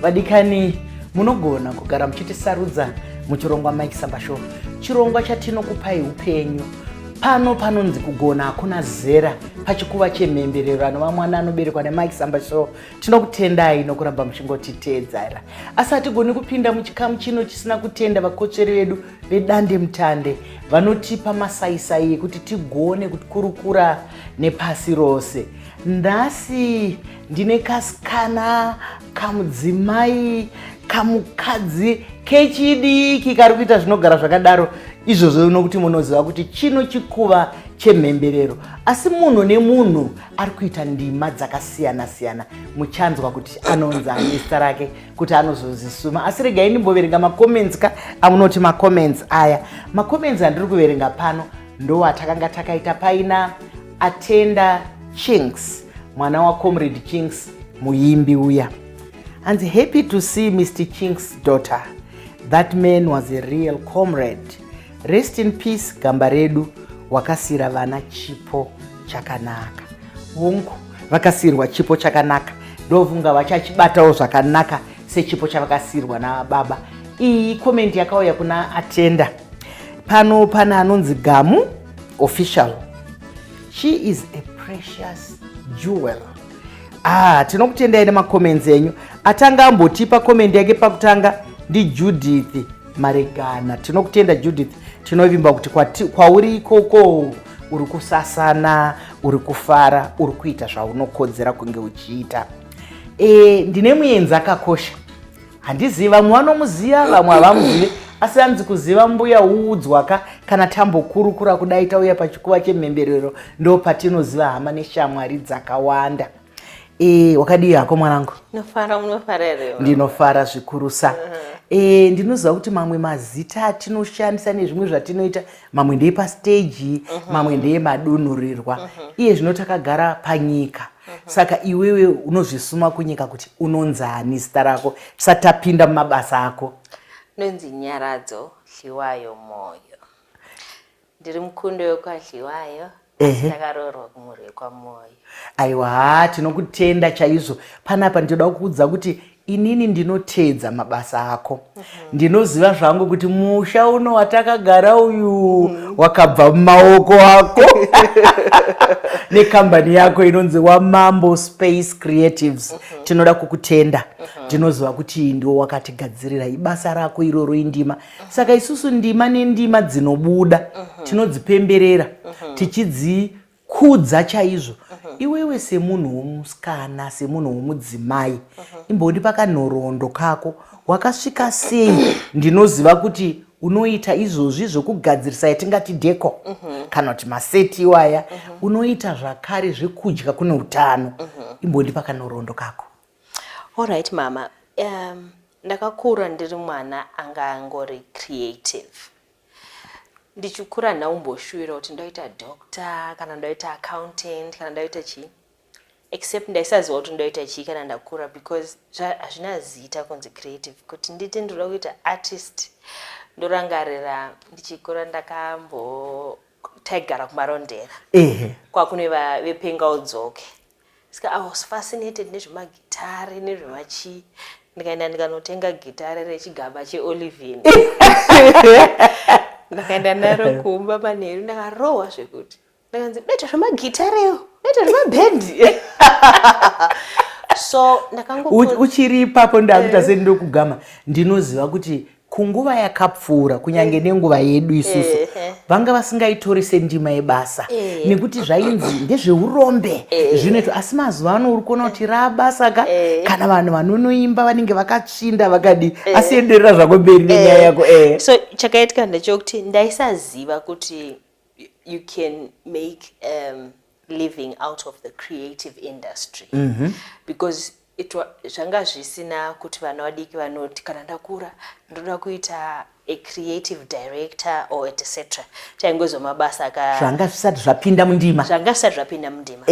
vadikani munogona kugara muchitisarudza muchirongwa mike samba show chirongwa chatinokupai upenyu pano panonzi kugona hakuna zera pachikuva chemhemberero anova mwana anoberekwa nemike samba show tinokutendai nokuramba muchingotiteedzera asi hatigoni kupinda muchikamu chino chisina kutenda vakotsveri vedu vedande mutande vanotipa masaisai ekuti tigone kukurukura nepasi rose nhasi ndine kasikana kamudzimai kamukadzi kechidiki kari kuita zvinogara zvakadaro izvozvo unokuti munoziva kuti chino chikuva chemhemberero asi munhu nemunhu ari kuita ndima dzakasiyana siyana muchanzwa kuti anonzi anesta rake kuti anozozisuma asi regai ndimboverenga macomments ka amunoti macomments aya macomments andiri kuverenga pano ndowatakanga takaita paina atenda chinks mwana wacomrade chinks muimbi uya hanzi happy to see mr chinks daughter that man was a real comrade rest in peace gamba redu wakasira vana chipo chakanaka hungu vakasirwa chipo chakanaka ndovunga vachachibatawo zvakanaka sechipo chavakasirwa nababa iyi komendi yakauya kuna atenda pano pana anonzi gamu official she is a precious jewel ah tinokutendai nemacomments enyu atanga ambotipa comment yake pakutanga ndijudith maregana tinokutenda judith tinovimba kuti kwauri ikoko uri kusasana uri kufara uri kuita zvaunokodzera kunge uchiita e, ndine muenzi akakosha handizivi vamwe vanomuziva vamwe havamuzivi asi anzi kuziva mbuya uudzwaka kana tambokurukura kudai tauya pachikuva chemhemberero ndo patinoziva hama neshamwari dzakawanda e, wakadii hako mwanangu ndinofara zvikurusa uh -huh. e, ndinoziva kuti mamwe mazita atinoshandisa nezvimwe zvatinoita mamwe ndeye pasteji uh -huh. mamwe ndeye madunhurirwa uh -huh. iye zvino takagara panyika saka iwewe unozvisuma kunyika kuti unonzani zita rako tisati tapinda mumabasa ako ndonzi nyaradzo hliwayo moyo ndiri mukundo yokwahliwayo ndakaroorwa kumhuri yekwamoyo aiwa haa tinokutenda chaizvo panapa ndinoda kuudza kuti inini ndinoteedza mabasa ako mm -hmm. ndinoziva zvangu kuti musha uno watakagara uyu mm -hmm. wakabva mumaoko ako nekambani yako inonzi wamambo space creatives mm -hmm. tinoda kukutenda mm -hmm. ndinoziva kuti ndiwo wakatigadzirira ibasa rako iroro indima mm -hmm. saka isusu ndima nendima dzinobuda mm -hmm. tinodzipemberera mm -hmm. tichidzi kudza chaizvo mhm. iwewe semunhu womusikana semunhu womudzimai mhm. imbondipa kanhoroondo kako wakasvika sei ndinoziva kuti unoita izvozvi zvokugadzirisa yatingati deko mhm. kana kuti maseti iwaya unoita zvakare zvekudya kune utano imbondipa kanhoroondo kako allright mama um, ndakakura ndiri mwana anga angori creative Ndichikura handina kumboshuwira kuti ndoita doctor kana ndoita accountant kana ndoita chii except ndaisaziva kuti ndoita chii kana ndakura because hazvina zita kunzi creative kuti nditi ndinoda kuita artist ndorangarira ndichikura ndakambo taigara kumarondera ehe kwakuneva vepenga udzoke Ska I was fascinated nezvemagitare nezvemachii ndikaenda ndikanotenga gitare rechigaba cheolivin ndakaenda naro kumba manheru ndakarohwa zvekuti ndakanzi bete zvemagitareyo bete zvemabhendi so ndakango uchiri ipapo ndakuita eh. sei ndokugama ndinoziva kuti kunguva yakapfuura kunyange mm. nenguva yedu isusu vanga vasingaitori sendima yebasa nekuti zvainzi ndezveurombe zvinoitwa asi mazuva ano uri kuona kuti rabasa ka kana vanhu vanonoimba vanenge vakatsvinda vakadi asi enderera zvako mberi nenyaya yako so chakaitika ndechokuti ndaisaziva kuti you can make um, living out of the creative industry mm -hmm. because zvanga zvisina kuti vana vadiki vanoti kana ndakura ndoda kuita a creative director or etc taingozo mabasa ka zvanga zvisati zvapinda mundima zvanga zvisati zvapinda mundima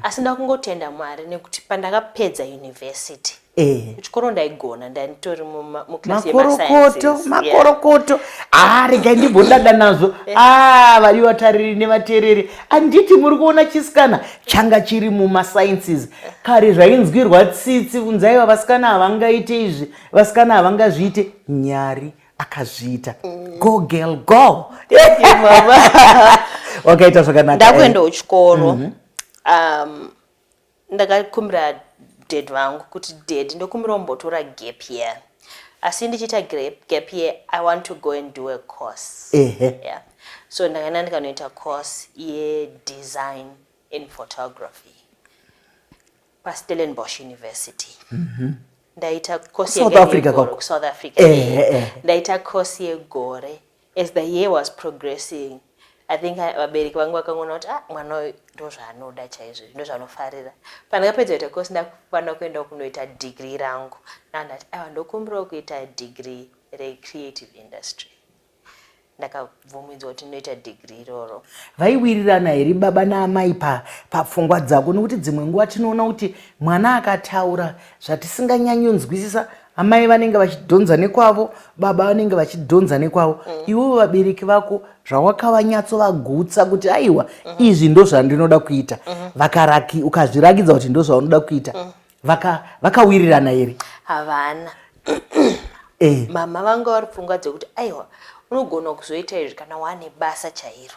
asi ndakungotenda mwari nekuti pandakapedza university Eh. Kuchikoro ndaigona ndanitori muclass yemakorokoto makorokoto haa ah, regai ndimbodada nazvo eh. aa ah, vari vatariri nevatereri anditi muri kuona chisikana changa chiri mumasciences kare zvainzwirwa tsitsi kunzaiva vasikana havangaite izvi vasikana havangazviite nyari akazviita mm. go girl go wakaita zvakanaka ndakuendawo chikoro mhm. um, Ndakakumbira dad vangu kuti dad ndokumbira umbotora gap year asi ndichiita gap year i want to go and do a course ehe yeah. so ndakaenda ndikanoita course yedesign in photography pastellenbosch university mm -hmm. ndaita course south africa, south africa. Eh, eh. ndaita course yegore As the year was progressing, I think uh, vabereki vangu vakangoona kuti ah, mwana uyu ndozvaanoda chaizvo ndozvaanofarira pandakapedza kuita course ndakufanira kuenda kunoita degree rangu ndandati aiwa ndokumbirawo kuita degree recreative industry ndakabvumidzwa kuti ndinoita degree iroro vaiwirirana here baba naamai pa papfungwa dzako nokuti dzimwe nguva tinoona kuti mwana akataura zvatisinganyanyonzwisisa amai vanenge vachidhonza nekwavo baba vanenge vachidhonza nekwavo mm. iwewo vabereki vako zvawakavanyatso vagutsa kuti aiwa mm -hmm. izvi ndozvandinoda kuita mm -hmm. vakaraki ukazvirakidza kuti ndozvaunoda kuita mm. vaka vakawirirana here havana eh. mama vanga vari pfungwa dzekuti aiwa unogona kuzoita izvi kana wane basa chairo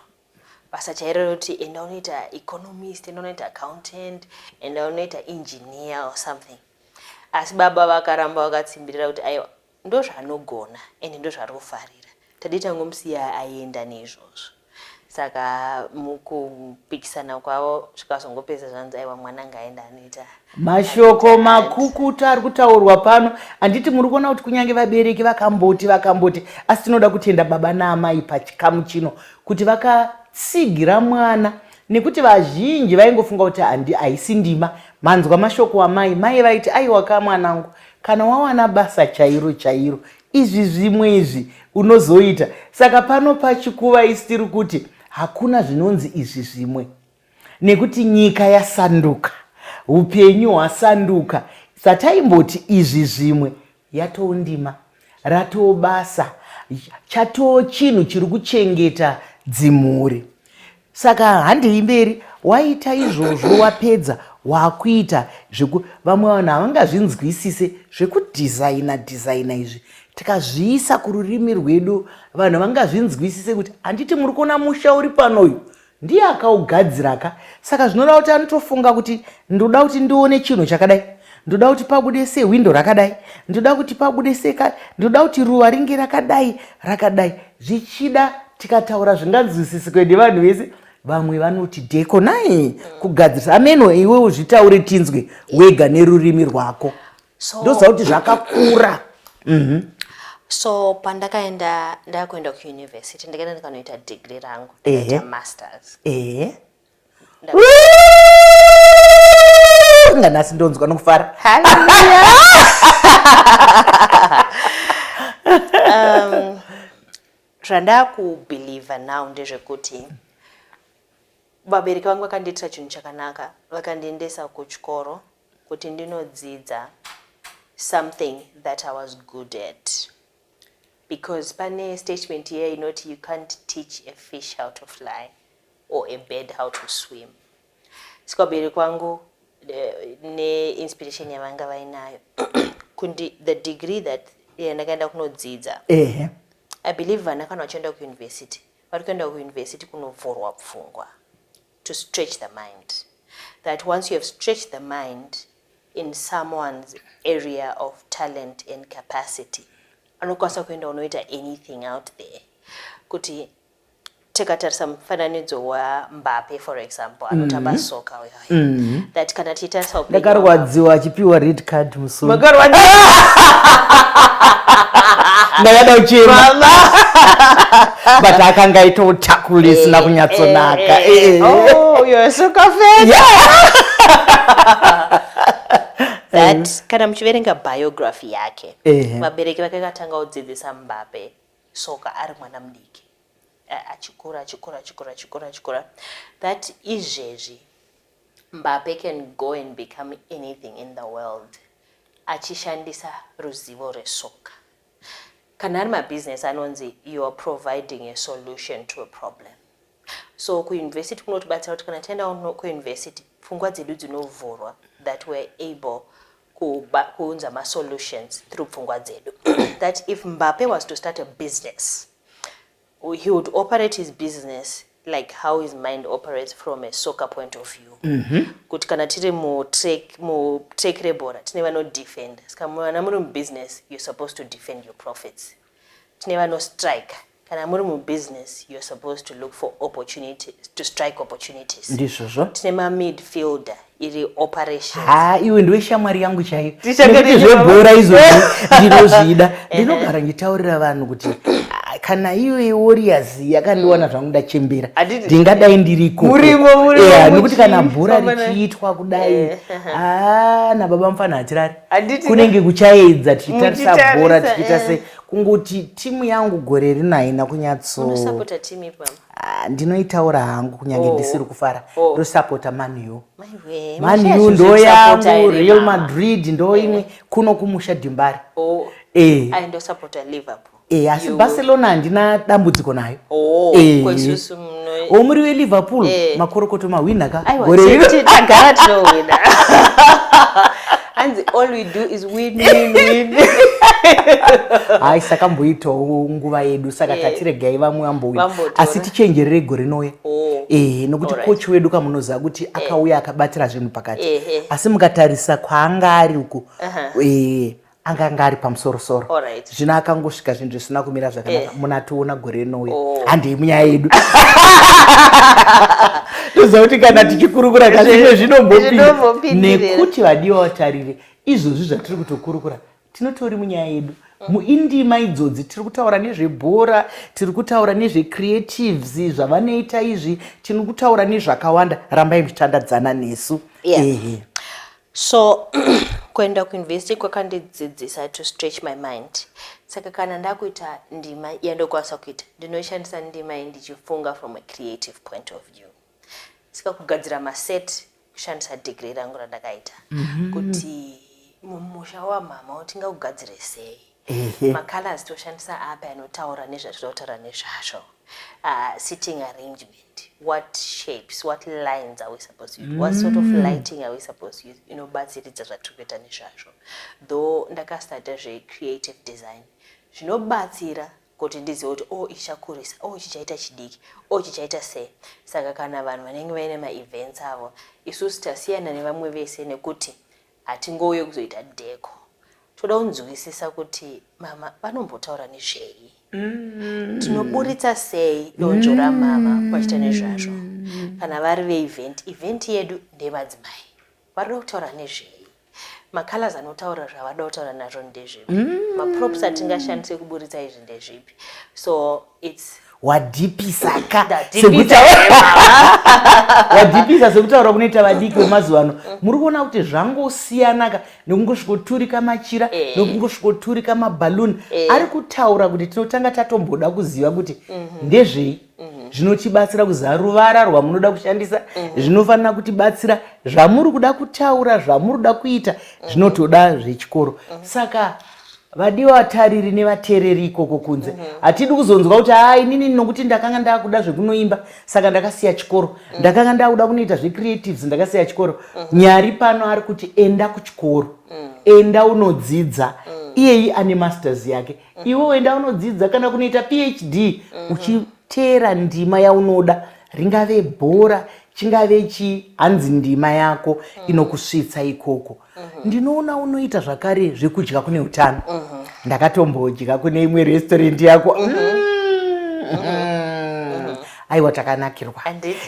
basa chairo rekuti enda unoita economist enda unoita accountant enda unoita engineer or something asi baba vakaramba vakatsimbirira kuti aiwa ndozvaanogona ende ndozvaari kufarira tadii tangomusiya aenda neizvozvo saka mukupikisana kwavo zvikazongopedza zvanzi aiwa mwana ngaenda anoita mashoko makukutu ari kutaurwa pano handiti muri kuona kuti kunyange vabereki vakamboti vakamboti asi tinoda kutenda baba naamai pachikamu chino kuti vakatsigira mwana nekuti vazhinji vaingofunga kuti handi haisi ndima manzwa mashoko amai mai vaiti aiwaka mwanangu kana wawana basa chairo chairo izvi zvimwe izvi unozoita saka pano pachikuva isi tiri kuti hakuna zvinonzi izvi zvimwe Nekuti nyika yasanduka, hupenyu hwasanduka. Sataimboti izvi zvimwe yatoo ndima, ratoo basa, chatoo chinhu chiri kuchengeta dzimhuri. Saka handei mberi, waita izvozvo wapedza wakuita zveku vamwe vanhu havangazvinzwisise zvekudhizaina dhizaina izvi tikazviisa kururimi rwedu vanhu vangazvinzwisise kuti handiti muri kuona musha uri pano uyu Ndiye akaugadzira ka saka zvinoda kuti anotofunga kuti ndoda kuti ndione chinhu chakadai ndoda kuti pabude se hwindo rakadai ndoda kuti pabude se ka ndoda kuti ruva ringe rakadai rakadai zvichida tikataura zvinganzwisisike nevanhu vese vamwe vanoti deko nai kugadzirisa ameno iwe uzvitaure tinzwe wega nerurimi rwako so, ndoziva kuti zvakakura mm -hmm. so pandakaenda ndakuenda kuuniversity ndikaenda ndikanoita degree rangu ndikaita masters ehe inga nhasi ndonzwa nokufara um, zvandakubhilivha now ndezvekuti vabereki vangu vakandiitira chinhu chakanaka vakandiendesa kuchikoro kuti ndinodzidza something that I was good at because pane statement here inoti you can't teach a fish how to fly or a bird how to swim saka ubiri kwangu eh, neinspiration yavanga vainayo kundi the degree that eh, ndakaenda kunodzidza ehe i believe vana kana vachienda kuuniversity vari kuenda kuuniversity kunovhurwa pfungwa to stretch the mind that once you have stretched the mind in someone's area of talent and capacity anokwanisa kuenda unoita anything out there kuti tikatarisa mufananidzo wambape for example anotamba mm -hmm. soka uyo mm -hmm. that kana itasisa upenyu hwako. ndakarwadziwa achipiwa red card musoro Makarwadza. ndakada uchema Mama. but akanga aita utakuri isina kunyatsonaka Eh, eh, eh. Oh, you're so confident. that kana muchiverenga biography yake Ehe. vabereki vake katanga kudzidzisa mbape soka ari mwana mudiki A- achikura achikura achikura achikura achikura that izvezvi Mbappe can go and become anything in the world achishandisa ruzivo rwesoka. Kana ari mabusiness anonzi you are providing a solution to a problem. So kuuniversity kunotibatsira kuti kana taenda kuuniversity pfungwa dzedu dzinovhurwa that we're able kuunza masolutions through pfungwa dzedu that if Mbappe was to start a business He would operate his business like how his mind operates from a soccer point of view mm -hmm. kuti kana tiri mutrek rebhora tine vanodefend ska vana muri mubusiness you're supposed to defend your profits tine vanostrike kana muri mubusiness you're supposed to look for opportunity to strike opportunities ndizvozvo tine mamidfielder iri operation ha iwe ndiwe shamwari yangu chaiyo nekuti zvebhora izvo ndinozvida ndinogara ndichitaurira vanhu kuti ah, kana iwe warriors yakandiwana zvangu ndachembera ndingadai ndirikonokuti kana bhora richiitwa kudai eh, eh, eh. Ah, nababa mufana hatirari kunenge kuchaedza tichitarisa bhora tichiita se kungoti timu yangu gore rino haina kunyatso Ah, ndinoitaura hangu kunyange oh. ndisiri kufara oh. ndosapota manu manu ndoyangu real madrid ndoimwe eh. kuno kumusha dimbari oh. eh. eh, asi barcelona handina dambudziko nayo omuri weliverpool makorokoto mahwina ka gore iro hanzi all we do is win win win hayi sakamboitawo nguva yedu saka yeah. tatiregai vamwe vambouya asi tichenjerere gore rinouya oh. ehe nokuti right. kochi wedu kamunoziva kuti eh. akauya eh. akabatira zvinhu pakati eh, eh. asi mukatarisa kwaanga ari uko uh -huh. eh, anga anga ari pamusorosoro right. zvino akangosvika zvinhu zvisina kumira zvakanaka eh. muna tiona gore rinouya oh. handei munyaya yedu toziva kuti kana tichikurukura kazvimwe zvinombopinda nekuti vadiwa vatariri izvozvi zvatiri kutokurukura tinotori munyaya yedu muindima idzodzi tiri kutaura nezvebhora tiri kutaura nezvecreatives zvavanoita izvi tiri kutaura nezvakawanda rambai muchitandadzana nesu ehe So kuenda kuuniversity kwakandidzidzisa to stretch my mind. Saka kana ndakuita ndima yandokwanisa kuita, ndinoshandisa ndima iyi ndichifunga from a creative point of view. Saka kugadzira maset kushandisa degree rangu randakaita mm -hmm. kuti mumusha wamama utinga kugadzire sei macolors toshandisa api anotaura nezvatinotaura nezvazvo uh, sitting arrangement what shapes what lines are we supposed to use what sort of mm. lighting are we supposed to use inobatsiridza zvatiri kuita nezvazvo though ndakastarta zvecreative design zvinobatsira kuti ndizive kuti o oh, ichakurisa o oh, chichaita chidiki o oh, chichaita sei saka kana vanhu vanenge vaine maevents avo isusu tasiyana nevamwe vese nekuti Hatingouye kuzoita decor. Toda kunzwisisa kuti mama vanombotaura nezvei. Mm. Tinoburitsa sei donzvo mm. ramama vachita nezvazvo. Kana vari veevent, event yedu ndevadzimai. Varida kutaura nezvei macolors anotaura zvavada kutaura nazvo ndezvipi mm. maprops atingashandise kuburitsa izvi ndezvipi so its wadhipisa ka wadhipisa sekutaura kunoita vadiki vemazuva ano mm. muri kuona kuti zvangosiyana ka nekungosvikoturika machira eh. nekungosvikoturika mabhaluni eh. ari kutaura kuti tinotanga tatomboda kuziva kuti mhm. ndezvei mhm. zvinotibatsira kuziva ruvara rwamunoda kushandisa mhm. zvinofanira kutibatsira zvamuri kuda kutaura zvamuri kuda kuita zvinotoda zvechikoro saka vadiwa vatariri nevatereri ikoko kunze mhm. hatidi mm -hmm. kuzonzwa kuti haa inini nokuti ndakanga ndakuda zvekunoimba saka ndakasiya chikoro mm -hmm. ndakanga ndakuda kunoita zvecreatives ndakasiya chikoro mm -hmm. nyari pano ari kuti enda kuchikoro mm -hmm. enda unodzidza mm -hmm. iyeyi ane masters yake mm -hmm. iwe enda unodzidza kana kunoita phd mm -hmm. uchiteera ndima yaunoda ringave bhora chingave chi hanzi ndima yako mm -hmm. inokusvitsa ikoko Mhm. ndinoona unoita zvakare zvekudya kune utano mhm. ndakatombodya kune imwe restaurant yako mhm. mm. aiwa takanakirwa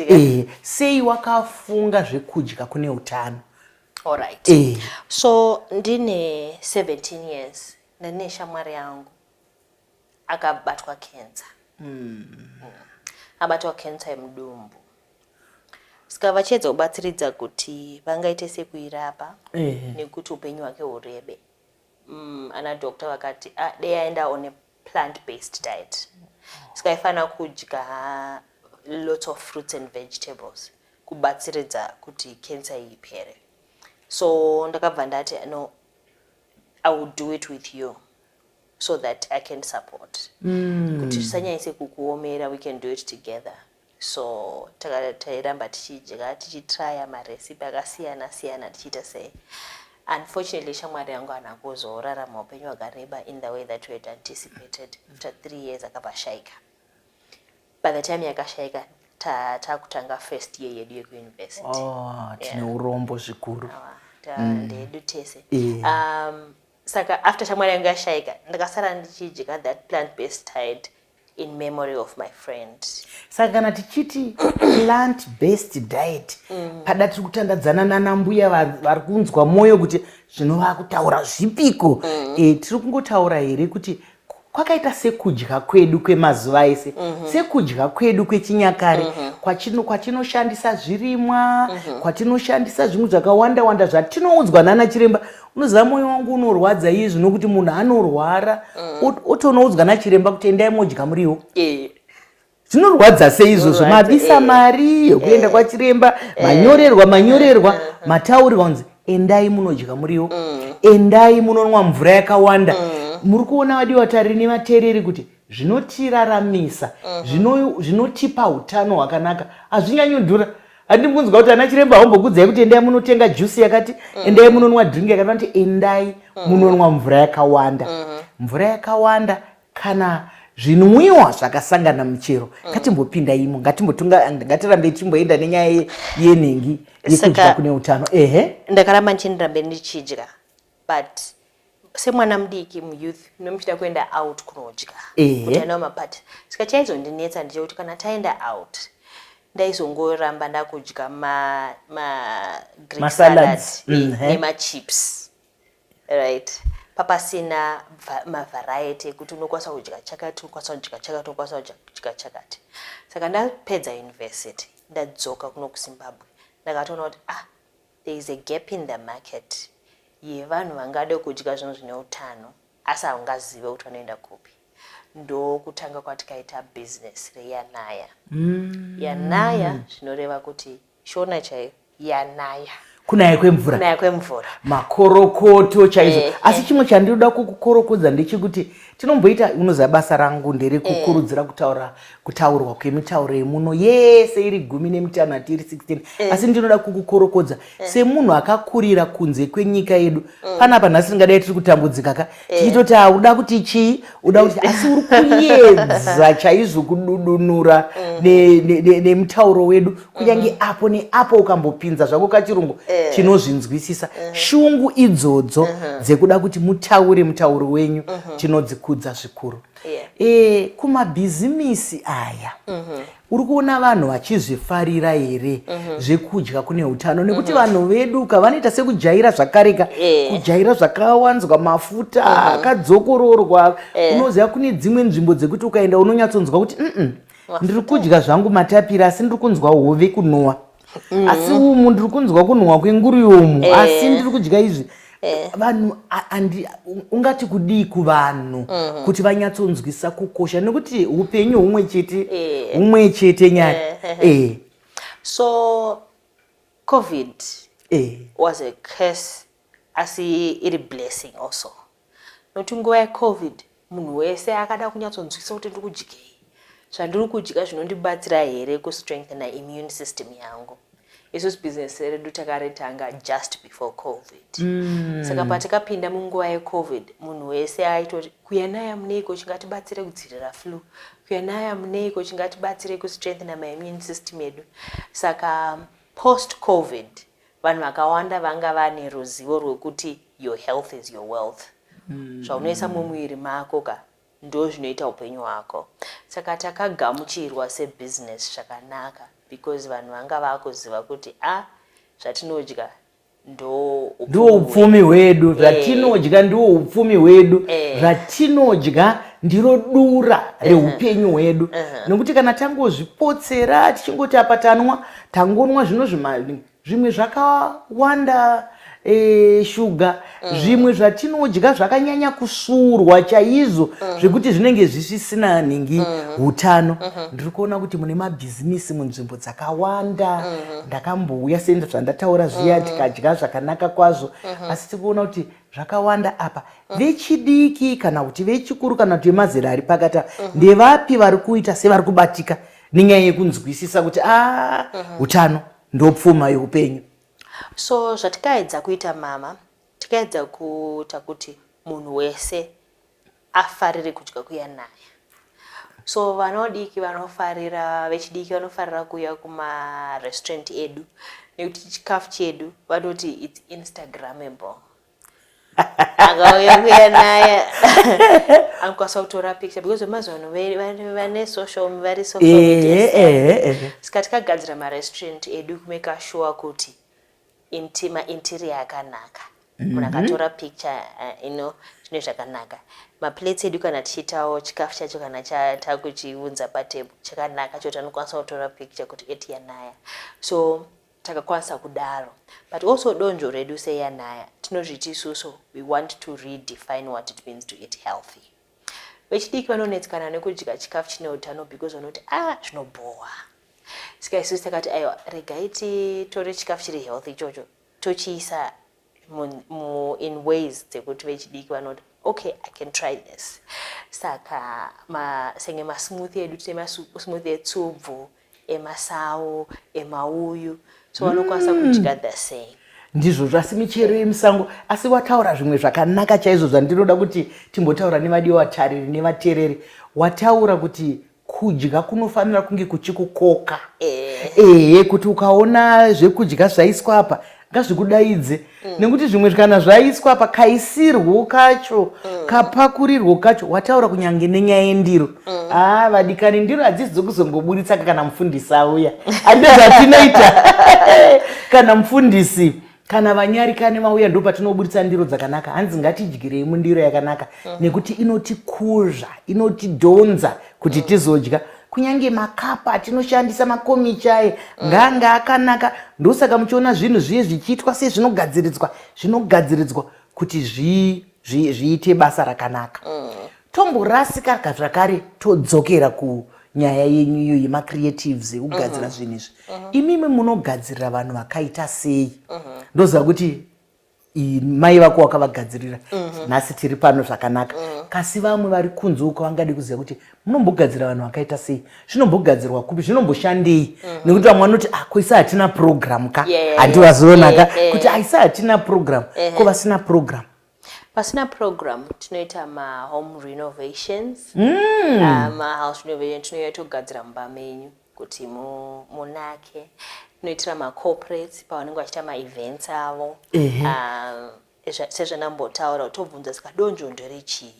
eh, sei wakafunga zvekudya kune utano alright eh. so ndine 17 years ndine shamwari yangu akabatwa cancer mm. mm. abatwa cancer yemudumbu Ska vachiedza kubatsiridza kuti vangaite sei kuirapa Ehe. nekuti upenyu hwake hurebe. Mm, ana doctor vakati ah, dei aenda on a plant based diet. Ska aifanira kudya lots of fruits and vegetables kubatsiridza kuti cancer iyi ipere. So ndakabva ndati no I will do it with you so that I can support. Kuti zvisanyanyise kukuomera we can do it together. So tairamba tichidya tichitryer marecipe akasiyana siyana tichiita sei. Unfortunately shamwari yangu haana kuzorarama upenyu hwakareba in the way that we had anticipated. After three years akabva ashaika. By the time yakashaika takutanga ta first year yedu yekuuniversity. Oh, tine yeah. urombo zvikuru. Ndedu tese. Yeah. Um, saka after shamwari yange yashaika ndakasara ndichidya that plant based tide in memory of my friend saka kana tichiti plant based diet mm. pada tiri kutandadzana nanambuya vari kunzwa mwoyo kuti zvino vakutaura zvipiko mm. e, tiri kungotaura here kuti kwakaita sekudya kwedu kwemazuva ese mm -hmm. sekudya kwedu kwechinyakare mm -hmm. kwachino, kwatinoshandisa zvirimwa mm -hmm. kwatinoshandisa zvimwe zvakawanda wanda zvatinoudzwa nana chiremba unoziva mwoyo wangu unorwadza iye zvino kuti munhu anorwara mm -hmm. otonoudzwa nachiremba kuti endai modya muriwo e. zvinorwadza sei izvozvo mabisa eh. mari yekuenda eh. kwachiremba eh. manyorerwa manyorerwa mataurirwa kunzi endai munodya muriwo mm. endai munonwa mvura yakawanda mm. muri kuona vadi vatari nevateereri kuti zvinotiraramisa mm-hmm. zvinotipa utano hwakanaka hazvinyanyodhura handii kunzwa kuti ana chiremba haumbokudzai kuti endai munotenga jusi yakati mm. endai munonwa drink yakati vanoti endai munonwa mvura yakawanda mm-hmm. mvura yakawanda kana zvinwiwa zvakasangana muchero mm. ngatimbopinda imo ngatirambei tichimboenda nenyaya yenhingi yekudya kune utano ehe ndakaramba ndichindirambe ndichidya but semwana mudiki muyouth mune muchida kuenda out kunodya kuti anawo mapati saka chaizondinetsa ndicho kuti kana taenda out ndaizongoramba ndakudya magreen salads mm, nemachips Right. Papasina va- mavariety ekuti unokwanisa kudya chakati, unokwanisa kudya chakati, unokwanisa kudya- kudya chakati. Saka ndapedza university, ndadzoka kuno kuZimbabwe, ndakatoona kuti ah, there is a gap in the market yevanhu vangade kudya zvinhu zvine utano asi haungazive kuti vanoenda kupi. Ndokutanga kwatikaita business reyanaya. Yanaya zvinoreva kuti Shona chaiyo yanaya. Kunaya kwemvura. Kunaya kwemvura. Makorokoto chaizo. Eh, Asi eh. chimwe chandinoda kukukorokodza ndechekuti tinomboita unoziva basa rangu ndere eh. kukurudzira kutaura kutaurwa kwemitauro yemuno yese iri gumi nemitanhatu iri 16 eh. asi ndinoda kukukorokodza eh. semunhu akakurira kunze kwenyika yedu mm. panapa nhasi tingadai tiri kutambudzika ka tichitoti eh. uda kuti chii uda kuti asi uri kuyedza chaizvo kududunura mm. nemutauro wedu kunyange mm. apo neapo ukambopinza zvako kachirungu eh. tinozvinzwisisa eh. shungu idzodzo mm-hmm. dzekuda kuti mutaure mutauro wenyu mm-hmm. tinodzikudza zvikuru kumabhizimisi aya mm-hmm. uri kuona vanhu vachizvifarira here mhm. zvekudya kune utano nekuti mhm. vanhu vedu ka vanoita sekujaira zvakareka eh. kujaira zvakawanzwa mafuta mhm. akadzokororwa eh. unoziva kune dzimwe nzvimbo dzekuti ukaenda unonyatsonzwa kuti ndiri kudya zvangu matapira asi ndiri kunzwa hove kunowa mm. asi umu ndiri kunzwa kunhuhwa kwenguri umu eh. asi ndiri kudya izvi eh. vanhu ungati kudii kuvanhu mm. kuti vanyatsonzwisa kukosha nekuti upenyu humwe chete eh. humwe chete nyaya eh. so covid eh. was a curse Asi iri blessing also nokuti nguva yecovid munhu wese akada kunyatsonzwisa kuti ndiri kudyei, zvandiri kudya zvinondibatsira here kustrengthena immune system yangu. Isusu business redu takaritanga just before covid mm. saka patakapinda munguva yecovid munhu wese aitoti kuya naya muneiko chingatibatsire kudzirira flu kuya naya muneiko chingatibatsire kustrengthena maimmune system yedu saka post covid Vanhu vakawanda vanga vane ruzivo rwekuti your health is your wealth. Mm. Zvaunoisa mumuviri mako ka ndo zvinoita upenyu hwako. Saka takagamuchirwa sebusiness zvakanaka because vanhu vanga vakuziva kuti a ah, zvatinodya ndiwo upfumi hwedu eh. zvatinodya ndiwo upfumi hwedu eh. zvatinodya ndiro dura eh. reupenyu hwedu nekuti kana tangozvipotsera tichingoti apa tanwa tangonwa zvino zvimali zvimwe zvakawanda e, shuga mm. zvimwe zvatinodya zvakanyanya kusurwa chaizvo mm. zvekuti zvinenge zvisisina nhingi mm. utano mm -hmm. ndiri kuona kuti mune mabhizimisi munzvimbo dzakawanda mm -hmm. ndakambouya senda zvandataura zviya mm -hmm. tikadya zvakanaka kwazvo mm -hmm. asi tiri kuona kuti zvakawanda apa mm. vechidiki kana kuti vechikuru kana kuti vemazera ari pakati apa mm -hmm. ndevapi vari kuita sevari kubatika nenyaya yekunzwisisa kuti a ah, mhm. utano uh -huh. ndopfuma yeupenyu so zvatikaedza kuita mama tikaedza kuita kuti munhu wese afarire kudya kuya naye so vanodiki vanofarira vechidiki vanofarira kuya kumarestaurant edu nekuti chikafu chedu vanoti its instagramable akauya kuya naye anokwanisa kutora picture because vemazuva ano vane social vari social eh, media eh, eh, saka tikagadzira marestaurant edu kumeka sure kuti mainterior akanaka mhm. munhu akatora picture ino zvine zvakanaka maplates edu kana tichiitawo chikafu chacho kana takuchiunza patable chakanaka choti anokwanisa kutora picture kuti eti yanaya so takakwanisa kudaro but also donzvo redu seyanaya tinozviti isusu we want to redefine what it means to eat healthy vechidiki vanonetsekana nekudya chikafu chine utano because vanoti a ah, zvinobhowa sika isusu takati aiwa regai titore chikafu chiri healthy ichocho tochiisa mu, mu, in ways dzekuti vechidiki vanoti okay i can try this saka ma, senge masmooth edu tine masmooth etsubvu emasawo emauyu so vanokwanisa mm. kudya the same ndizvozvo asi michero yemusango asi wataura zvimwe zvakanaka chaizvo zvandinoda kuti timbotaura nevadiwa vatariri nevatereri wataura kuti kudya kunofanira kunge kuchikukoka eh. ehe kuti ukaona zvekudya zvaiswa apa ngazvikudaidze mm. nekuti zvimwe kana zvaiswa apa kaisirwo kacho mm. kapakurirwo kacho wataura kunyange nenyaya yendiro mm. aa ah, vadikani ndiro hadzisi dzokuzongoburitsaka kana mufundisi auya andizvatinoita kana mufundisi kana vanyarikani vauya ndo patinoburitsa ndiro dzakanaka hanzi ngatidyirei mundiro yakanaka mm. nekuti inotikuzva inotidhonza kuti mm. tizodya kunyange makapa atinoshandisa makomichaye mm. ngaanga akanaka ndosaka muchiona zvinhu zviye zvichiitwa sezvinogadziridzwa zvinogadziridzwa kuti zvii zviite basa rakanaka mm. tomborasika zvakare todzokera kunyaya yenyu iyo yemacreatives ekugadzira mm-hmm. zvinhu izvi mm-hmm. imimi munogadzirira vanhu vakaita sei mm-hmm. ndoziva kuti mai vako wakavagadzirira nhasi tiri pano zvakanaka kasi vamwe vari kunze uko vangadi kuziva kuti munombogadzira vanhu vakaita sei zvinombogadzirwa kupi zvinomboshandei mhm. nekuti vamwe vanoti ah, ko isa hatina program ka handivazoona ka kuti aisa ah, hatina program ko vasina program pasina program tinoita mahome renovations mm. ah, mahouse renovation tinouya togadzira mumba menyu kuti munake tinoitira macorporates pavanenge vachiita maevents avo sezvandambotaura tobvunza saka donzvo nderechii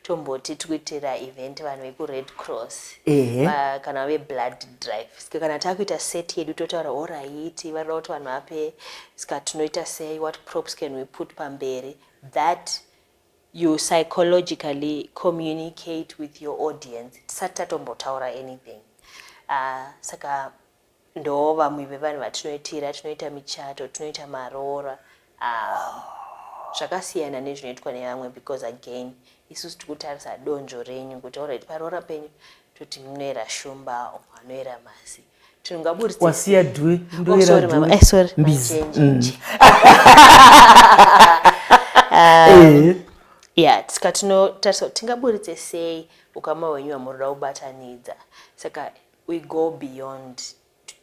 tomboti tikuitira event vanhu vekured cross ba, kana veblood drive ska kana takuita set yedu totaura oraiti vanoda kuti vanhu vape ska tinoita sei what props can we put pamberi that you psychologically communicate with your audience tisati tatombotaura anything uh, saka Ndoo vamwe vevanhu vatinoitira, tinoita michato, tinoita maroora aah zvakasiyana nezvinoitwa nevamwe because again isusu tikutarisa donzvo renyu kuti alright paroora penyu toti munoera shumba umwe anoera mhasi wasiya dwe ndoera dwe mbizi ya saka tinotarisa kuti tingaburitse sei ukama hwenyu hwamunoda kubatanidza saka We go beyond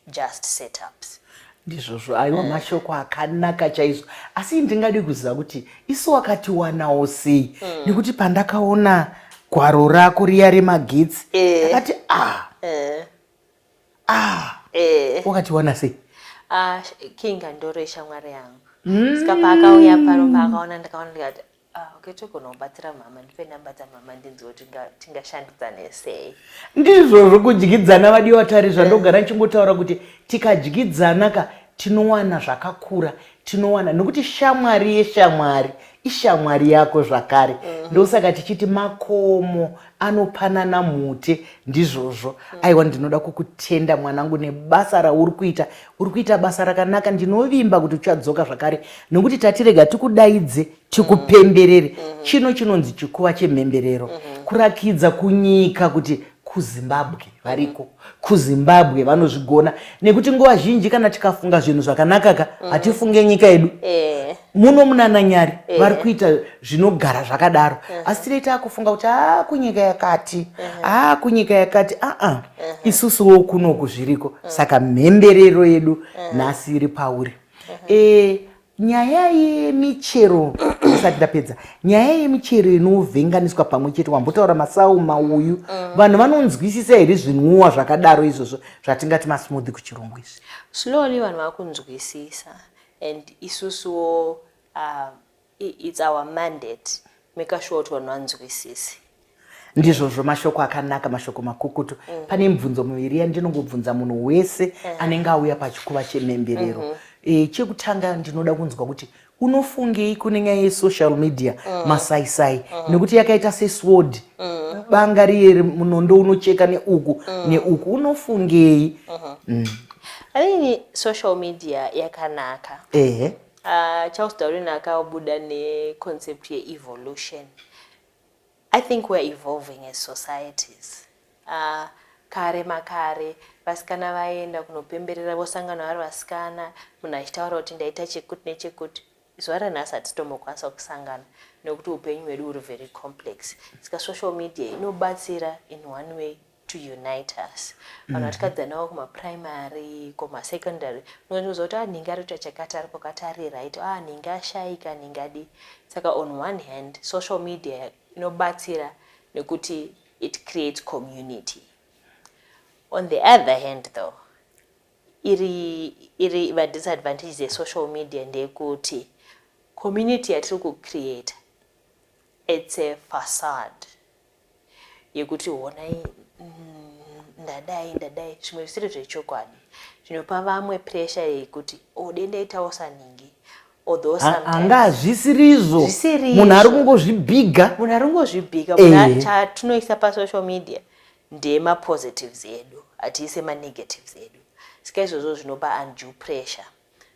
just setups. Ndizvozvo aiwa mm. mashoko akanaka chaizvo asi ndingadi kuziva kuti isu wakatiwanawo sei mm. nekuti pandakaona gwaro rako riya remagetsi eh. akati e. ah. e. ah. e. wakatiwana sei ah, king andoro ishamwari yangu mm. ska paakauya paromba akaona ndakaona ndikati Ah, okay, togona kubatsira mhama ndipe namba dzamhama ndinziwo tingashandidzane sei ndizvo zvokudyidzana vadiwa vatari zvandogara ndichingotaura kuti tikadyidzana ka tinowana zvakakura tinowana nokuti shamwari yeshamwari ishamwari yako zvakare mm. ndosaka tichiti makomo anopanana mhute ndizvozvo aiwa ndinoda kukutenda mwanangu nebasa rauri kuita uri kuita basa rakanaka ndinovimba kuti uchadzoka zvakare nokuti tatirega tikudaidze tikupemberere mm, mm. chino chinonzi chikuva chemhemberero mm-hmm. kurakidza kunyika kuti kuzimbabwe variko kuzimbabwe vanozvigona nekuti nguva zhinji kana tikafunga zvinhu zvakanakaka mm. hatifunge nyika yedu eh. muno munananyari yeah. vari kuita zvinogara zvakadaro uh-huh. asi tiri taakufunga kuti aa ah, kunyika yakati uh-huh. aa ah, kunyika yakati aa uh-uh. uh-huh. isusuwo kunoku zviriko uh-huh. saka mhemberero yedu uh-huh. nhasi uh-huh. iri pauri uh-huh. e, nyaya yemichero isati ndapedza nyaya yemichero inovhenganiswa pamwe chete wambotaura masau mauyu uh-huh. vanhu vanonzwisisa here zvinwiwa zvakadaro izvozvo zvatingati masmoothi kuchirungu izvi slowly vanhu vakunzwisisa And isusuwo uh, it's our mandate maker sure kuti vanhu vanzwisise ndizvozvo mashoko akanaka mashoko makukutu mm. pane mibvunzo miviri yandinongobvunza munhu wese mm. anenge auya pachikuva chemhemberero mm -hmm. e, chekutanga ndinoda kunzwa kuti unofungei kune nyaya yesocial media mm. masaisai mm. nekuti yakaita sesword mm. banga riye munondo unocheka neuku mm. neuku unofungei mm -hmm. mm. I think social media yakanaka. Ehe. Uh, Charles Darwin akabuda ne concept ye evolution. I think we're evolving as societies. Uh, kare makare vasikana vaenda kunopemberera vosangana vari vasikana munhu achitaura kuti ndaita chekuti nechekuti zuva ranhasi hatitombokwanisa kusangana nekuti upenyu hwedu huri very complex saka social media inobatsira in one way to unite us vanhu vatikadzanawo mm-hmm. kumaprimary kumasecondary unonzwa kuti anenge ah, ari kuita chakati ari pakati ari right a ah, anenge ashaika anenge adi saka on one hand social media inobatsira nekuti it creates community on the other hand though iri iri madisadvantages esocial media ndeyekuti community yatiri kucreata its a facade yekuti honai mm, ndadai ndadai zvimwe zvisiri zvechokwadi zvinopa vamwe presha yekuti ode oh, ndaitawo saningi angazvisirizvo munhu ari kungozvibhiga munhu ari kungozvibhiga chatinoisa pasocial media ndemapositives edu hatiise manegatives edu sika izvozvo zvinopa undue pressure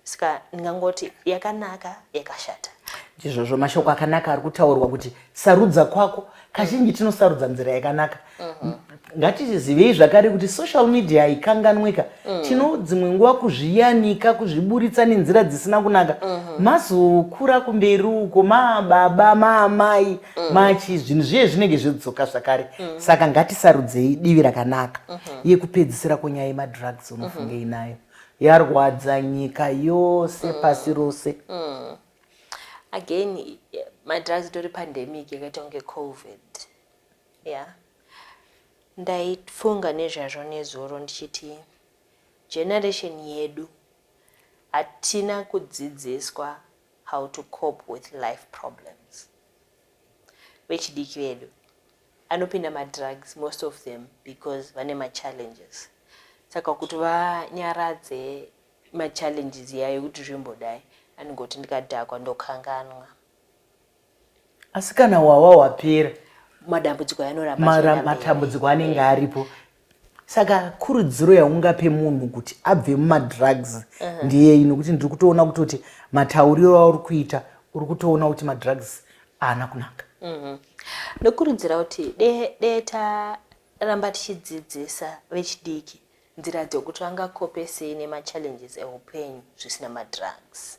ska ndingangoti yakanaka yakashata ndizvozvo mashoko akanaka ari kutaurwa kuti sarudza kwako kazhinji tinosarudza nzira yakanaka mhm. ngatizivei zvakare kuti social media haikanganwika mhm. tino dzimwe nguva kuzviyanika kuzviburitsa nenzira dzisina kunaka mhm. mazokura kumberi uko mababa maamai machi zvinhu zviye zvinenge zvodzoka zvakare saka ngatisarudzei divi rakanaka yekupedzisira konyaya yemadrugs unofunge inayo yarwadza nyika yose mm. pasi rose mm. again madrugs itori pandemic yakaita kunge covid ya yeah. ndaifunga nezvazvo nezuro ndichiti generation yedu hatina kudzidziswa how to cope with life problems vechidiki vedu anopinda madrugs most of them because vane machallenges saka kuti vanyaradze machallenges iya yekuti zvimbodai anongoti ndikadhakwa ndokanganwa asi kana wawa wapera madambudziko anoramba matambudziko anenge aripo Saka kurudziro yaungape munhu kuti abve mumadrugs uh-huh. ndiyei nokuti ndiri kutoona kutoti matauriro auri kuita uri kutoona kuti madrugs haana kunaka. Uh-huh. Ndokurudzira kuti dee dee ta ramba tichidzidzisa vechidiki nzira dzokuti vangakopesei nemachallenges eupenyu zvisina madrugs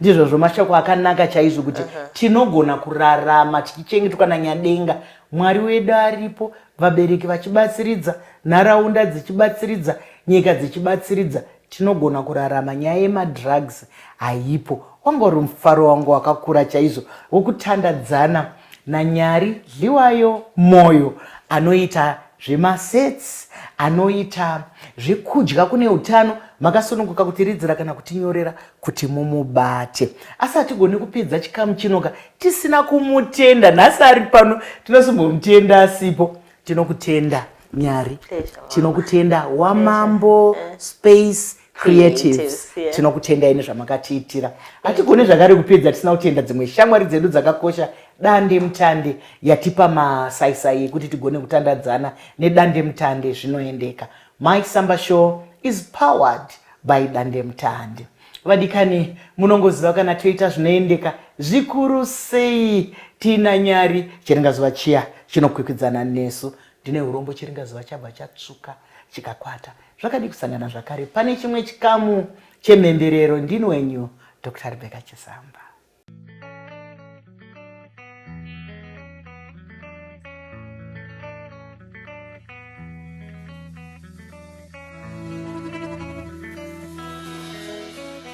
ndizvozvo mashoko akanaka chaizvo kuti uh -huh. tinogona kurarama tichichengetwa nanyadenga mwari wedu aripo vabereki vachibatsiridza nharaunda dzichibatsiridza nyika dzichibatsiridza tinogona kurarama nyaya yemadrugs haipo wanga uri mufaro wangu wakakura chaizvo wokutandadzana uh -huh. naNyari Dliwayo Moyo anoita zvemasets, anoita zvekudya kune utano makasununguka kutiridzira kana kutinyorera kuti mumubate. Asi hatigoni kupedza chikamu chinoka tisina kumutenda. Nhasi ari pano tinozombomutenda asipo. Tinokutenda Nyari, tinokutenda Wamambo Space creatives tinokutendai nezvamakatiitira hatigone zvakare kupedza tisina kutenda dzimwe shamwari dzedu dzakakosha dande mutande yatipa masaisai ekuti tigone kutandadzana nedande mutande zvinoendeka my samba show is powered by dande mutande vadikani munongoziva kana toita zvinoendeka zvikuru sei tiina nyari chiringazuva chiya chinokwikwidzana nesu ndine urombo chiringazuva chabva chatsvuka chikakwata Zvakadi kusangana zvakare pane chimwe chikamu chemhemberero ndini wenyu Dr. Rebecca Chisamba.